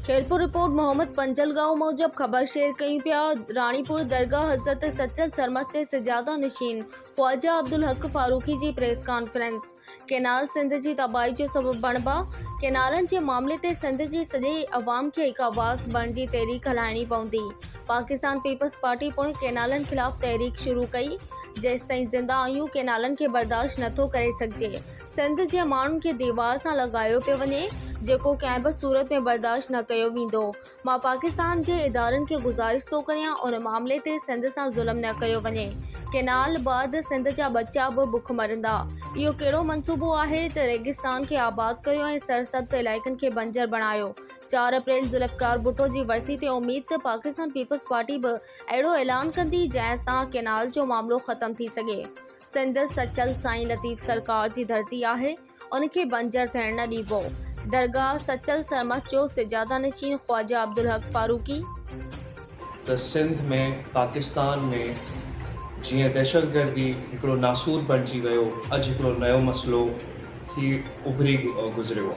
Khairpur, report Muhammad پنجل ڳائو موجب خبر شيئر ڪيون پيا راڻيپور درگاهه حضرت سچل سرمست جي سجاده نشين خواجه عبدالحق فاروقي جي پريس ڪانفرنس ڪئنال سنڌ جي تباهي جو سبب بڻبا ڪئنالن جي معاملي تي سنڌ جي سڄي عوام کي هڪ آواز بڻجي تحريڪ هلائڻي پوندي پاڪستان پيپلز پارٽي پڻ ڪئنالن خلاف تحريڪ شروع ڪئي جيستائين زنده آهيون ڪئنالن کي برداشت نٿو ڪري سگهجي سنڌ جي ماڻهن کي ديوار سان لڳايو پيو وڃي جيڪو ڪنهن به صورت ۾ برداشت نه ڪيو ويندو مان پاڪستان جي ادارن کي گذارش ٿو ڪريان ان معاملي تي سنڌ سان ظلم نه ڪيو وڃي ڪينال بعد سنڌ جا ٻچا به بک مرندا اهو ڪهڙو منصوبو آهي ته ريگستان کي آباد ڪريو ۽ سرسبز علائقن کي بنجر بڻايو چار اپريل ذوالفقار ڀٽو جي ورسي تي اميد ته پاڪستان پيپلز پارٽي به اهڙو اعلان ڪندي جنهن سان ڪينال جو معاملو ختم ٿي سگهي سنڌ سچل سائين لطيف سرڪار جي ڌرتي آهي، ان کي بنجر ٿيڻ نه ڏيبو، درگاهه سچل سرمست جو سجاده نشين خواجه عبدالحق فاروقي. ته سنڌ ۾ پاڪستان ۾ جيئن دهشتگردي هڪڙو ناسور بڻجي ويو اڄ هڪڙو نيو مسئلو ٿي اڀري گذريو.